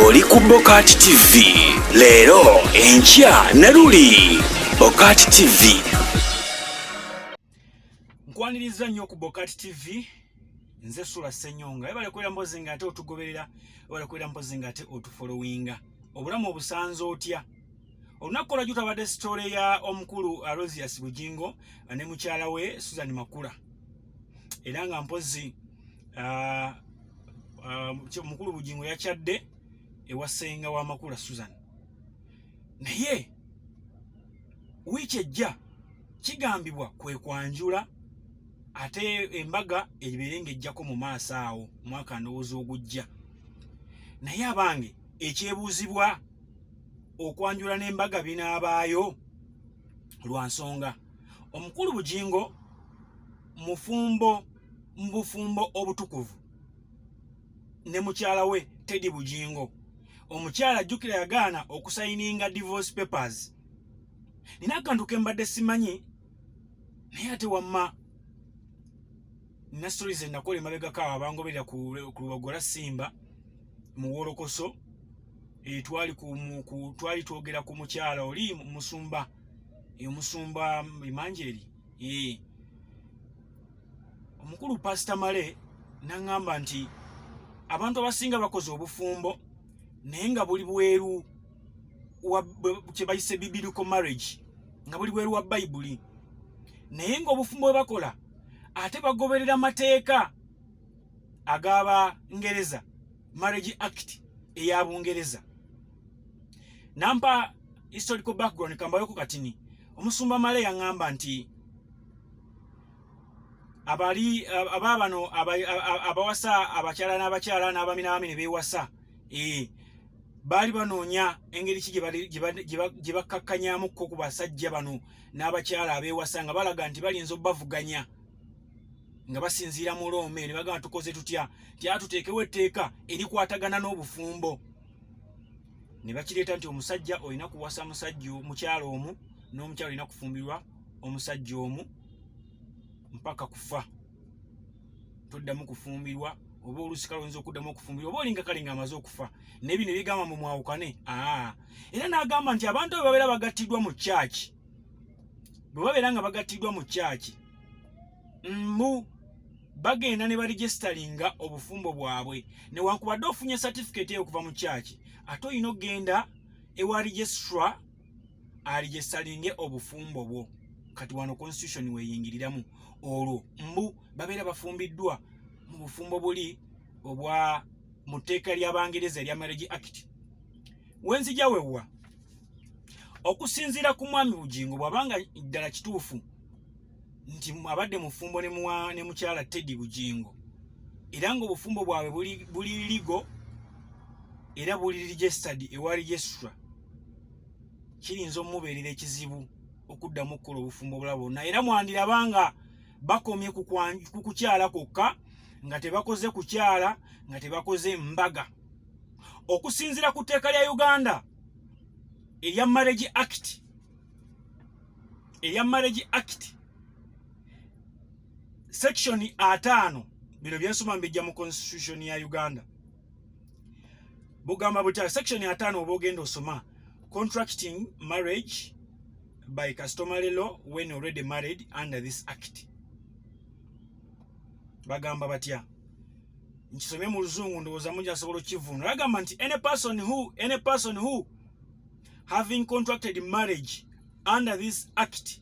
oli ku bokati tv leero enkya ne luli bokati tv nkwaniriza nnyo ku bokati tv nze sula senyonga ebale kwera mbozi nga ate otugoberera ebale kwera mbozi nga ate otufolowinga obulamu obusanze otya olunaku olwajjo twabadde sitole ya omukulu arosias bugingo ne mukyala we susan makula era nga mpozi ah, ah, mukulu bugingo yakyadde ewasenga wa makula susan naye wiiki ejja kigambibwa kwe kwanjula ate embaga ebeere ng'ejjako mu maaso awo mwaka ndowooza ogujja naye abange ekyebuuzibwa okwanjula n'embaga binaabaayo lwa nsonga omukulu bugingo mufumbo mu bufumbo obutukuvu ne mukyala we Teddy Bujingo. Omukyala ajjukira yagaana okusayininga divorce papers. Nina akantu ke mbadde simanyi naye ate wamma nina stories enakola emabegako awo abangoberera ku lubagola simba mu wolokoso eh, twali twali twogera ku mukyala oli musumba omusumba emanjeri ee eh. omukulu pasita male naŋŋamba nti abantu abasinga bakoze obufumbo naye nga buli bweru kye bayise bibilical marriage nga buli bweru wa bayibuli naye ng'obufumbo bwe bakola ate bagoberera amateeka ag'abangereza marriage act eya bungereza nampa historical background kambayoko katini omusumba male yaŋŋamba nti abali aba bano abawasa abakyala n'abakyala n'abami n'abami ne beewasa ee eh, baali banoonya engeri ki gye bakkakkanyamukko ku basajja bano n'abakyala abeewasa nga balaga nti balinza obubavuganya nga basinziira mu loome ne bagamba tukoze tutya nti atuteekewo etteeka erikwatagana n'obufumbo ne bakireeta nti omusajja olina kuwasa musajja mukyalo omu n'omukyalo olina kufumbirwa omusajja omu mpaka kufa toddamu kufumbirwa oba oluusi kalonza okuddamu okufumbirwa oba olinga kale nga amaze okufa naye bino ebigamba mbu mwawukane aa era n'agamba nti abantu abo babeera bagattiddwa mu kyaki bwe babeera nga bagattiddwa mu kyaki mbu bagenda ne baregisitalinga obufumbo bwabwe newankubadde ofunye satifiketi eyo okuva mu kyaki ate olina okugenda ewa registra alijesalinge obufumbo bwo kati wano constitution weyingiriramu olwo mbu babeera bafumbiddwa mu bufumbo buli obwa mu tteeka ly'abangereza erya marriage act wenzija wewwa okusinziira ku mwami bugingo bw'aba nga ddala kituufu nti abadde mufumbo ne mukyala teddy bugingo era ng'obufumbo bwabwe buli ligo era buli registered ewa registra kiyinza omubeerera ekizibu okuddamu okukola obufumbo obulala bwonna era mwandiraba nga bakomye ku kukyala kwokka nga tebakoze kukyala nga tebakoze mbaga okusinziira ku tteeka lya uganda erya marriage act erya marriage act section ataano bino byensoma mbijja mu constitution ya uganda bugamba butya section ya tano oba ogenda osoma contracting marriage by customary law when already married under this act bagamba batya nkisomye mu luzungu ndowooza mungi asobola okukivunula bagamba nti any person who any person who having contracted marriage under this act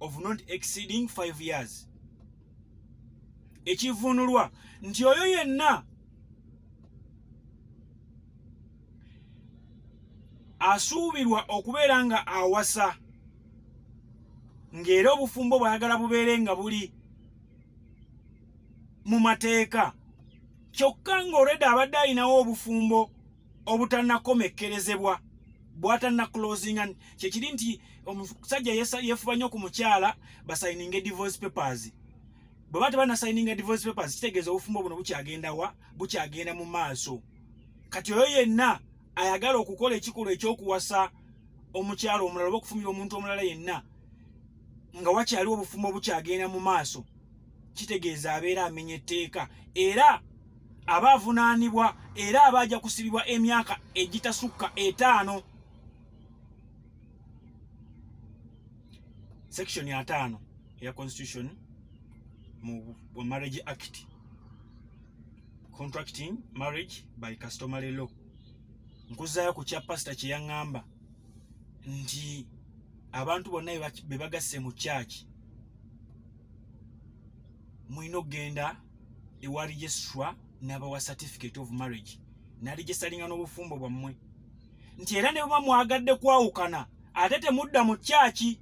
of not exceeding 5 years ekivunulwa nti oyo yenna asuubirwa okubeera nga awasa ng'era obufumbo bwayagala bubeere nga buli mu mateeka kyokka ng'olwedde abadde alinawo obufumbo obutanakomekkerezebwa bwatanna closinga kyekiri nti omusajja yefuba nnyo ku mukyala basayininga divorce papers bwe ba tebanasayininga divorce papers kitegeeza obufumbo buno bukyagenda wa bukyagenda mu maaso kati oyo yenna ayagala okukola ekikolwa ekyokuwasa omukyalo omulala oba okufumira omuntu omulala yenna nga wakyaliwo obufumbo bukyagenda mu maaso kitegeeza abeera amenya etteeka era aba avunaanibwa era aba ajja kusibibwa emyaka egitasukka etaano section ya taano eya constitution mu marriage act contracting marriage by customary law nkuzaayo ku kya pasita kye yaŋŋamba nti abantu bonna be bagasse mu kyaki mulina okugenda ewa registra nabawa certificate of marriage naligisalinga n'obufumbo bwammwe nti era ne baba mwagadde kwawukana ate temudda mu kyaki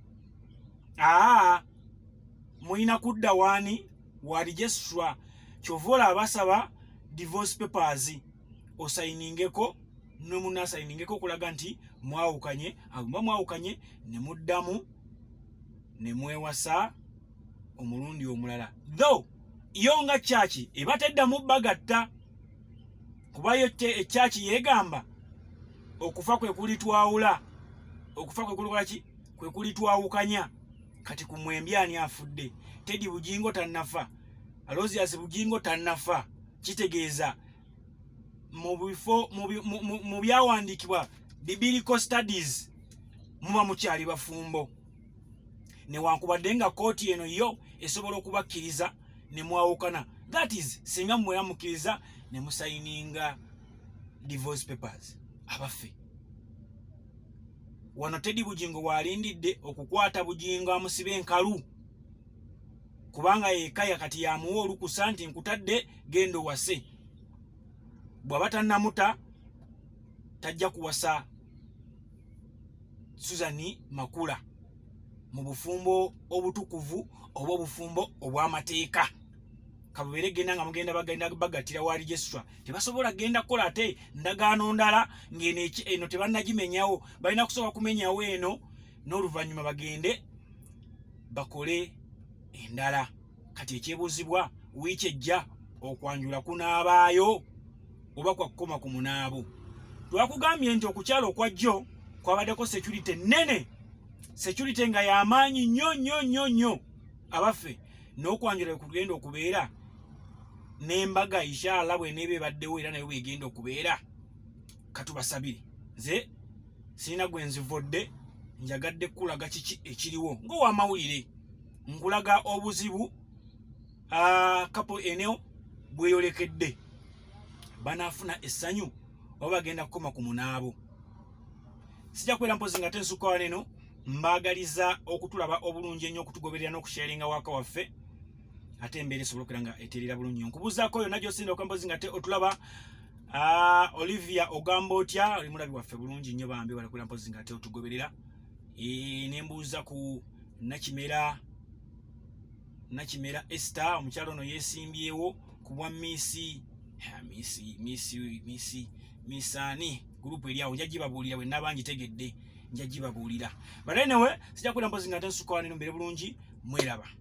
aa mulina kudda waani wa registra kyova olaba basaba divorce papers osayiningeko ne munno asayiningeko okulaga nti mwawukanye aguma mwawukanye ne muddamu ne mwewasa omulundi omulala though yo nga kyaki eba teddamu bagatta kuba yo ekyaki yeegamba okufa kwe kulitwawula okufa kwe kulikola ki kwe kulitwawukanya kati ku mwembi ani afudde tedi bugingo tannafa aloziyasi bugingo tannafa kitegeeza mu bifo mu byawandiikibwa bibilical studies muba mukyali bafumbo newankubadde nga kooti eno yo esobola okubakkiriza ne mwawukana that is singa muwera mukkiriza ne musayininga divorce papers abaffe wano tedi bugingo waalindidde okukwata bugingo amusiba enkalu kubanga yekaya kati yamuwa olukusa nti nkutadde gendo wase bwaba tanamuta tajja kuwasa suzani makula mu bufumbo obutukuvu oba obufumbo obw'amateeka kabubeere genda nga mugenda bagenda bagatira wa registra tebasobola genda kukola ate ndagaano ndala ng'eno eno tebannagimenyawo balina kusooka kumenyawo eno n'oluvannyuma bagende bakole endala kati ekyebuuzibwa wiiki ejja okwanjula kunaabaayo oba kwakukoma ku munaabo twakugambye nti okukyala okwa jjo kwabaddeko security nnene security nga yamaanyi nnyo nnyo nnyo nnyo abaffe n'okwanjula kugenda okubeera n'embaga inshallah bweneeba ebaddewo era nayo bwegenda okubeera katubasabire nze sirina gwe nzivodde njagadde kukulaga kiki ekiriwo ng'owamawulire nkulaga obuzibu kapo eneo bweyolekedde banaafuna essanyu oba bagenda kukoma ku munaabo sijja kubeera mpozi nga tensukawa neno mbaagaliza okutulaba obulungi ennyo okutugoberera n'okusharinga waaka waffe ate embeera esobola okera nga eterera bulungi nkubuzaako yonna gyosinda okwempozi nga te otulaba Ah, Olivia ogamba otya oli mulabi waffe bulungi nnyo bambi balakwera mpozi nga ate otugoberera e, ne mbuuza ku nakimera nakimera Esther omukyalo ono yesimbyewo ku bwa misi misi misi misi misani group eri awo njagibabuulira bwe nabangi tegedde njagibabuulira but anyway sija kwera mpozi nga ate nsukawaneno mbere bulungi mweraba